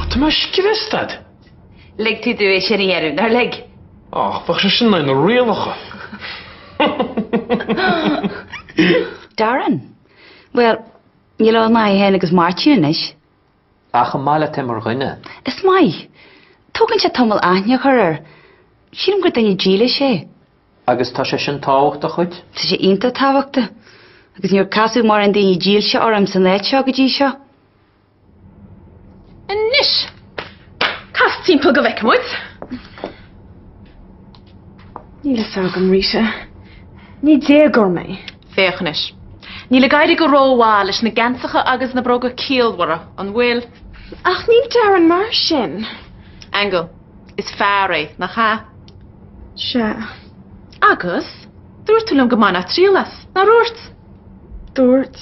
Tá mé sciobtha i stad. Lig tú dóibh sa deireadh, nár lig? Ach bheadh sé sin lena rialacha. Darren. Bhuel, níl ann ná é féin agus Máirtín anois. Ach an maith leat é mar dhuine. Is maith. Tógann sé tamall aithne a chur air. Sílim gur duine dílis é. Agus tá sé sin tábhachtach duit? Tá sé iontach tábhachtach. Agus níor casadh mórán daoine dílse orm san áit seo go dtí seo. Anois! Cas timpeall go bhfeice muid. Níl a fhios agam, Rita. Ní déagóir mé. Féach anois. Níl ag éirí go rómhaith leis na geansacha agus na bróga ciallmhara, an bhfuil? Ach níl Darren mar sin. Aingeal, Is fear é, nach ea? Sea. Agus, dúirt tú liom go mbainfeá triail as, nár dhúirt? Dúirt.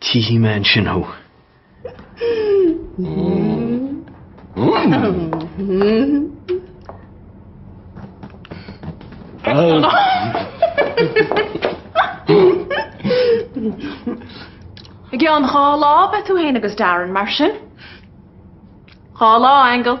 Tchífidh mé ansin thú. I gceann dhá lá beidh tú féin agus Darren, mar sin. Dhá lá, Aingeal.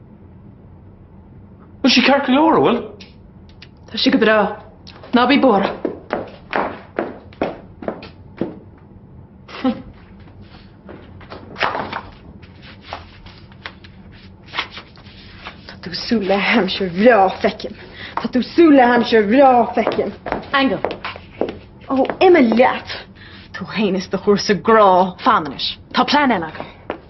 Bhfuil sí ceart go leor, a bhfuil? Tá sí go breá. Ná bí buartha. Tá tú súil le haimsir bhreá feicim. Aingeal. Ó, imigh leat. Tú fhéin is do chúrsa grá feimineachais. Tá plean eile agam.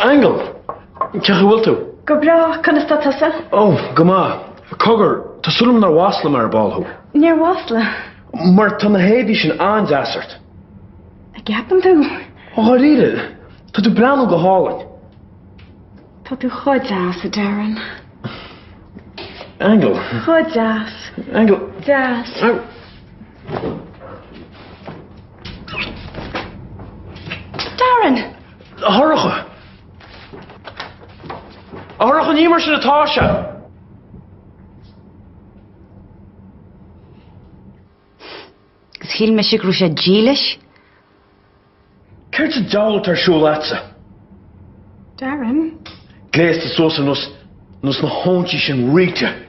Aingeal! Cén chaoi a bhfuil tú? Go breá, conas tá tusa? Ó, go maith. Cogar, tá súil agam nár mhasla mé ar ball thú. Níor mhasla. Mar tá na héadaí sin an-deas ort. An gceapann tú? Ó, dháiríre? Tá tú breathnú go hálainn. Tá tú chomh deas, a Darren. Aingeal. Chomh deas. Aingeal. Deas. Darren! A Shorcha! A Shorcha, ní mar sin atá sé! Is shíl mise go raibh sé dílis. Céard sa deabhal atá ar siúl leatsa? Darren? Gléasta suas ar nós na hóinsí sin Rita.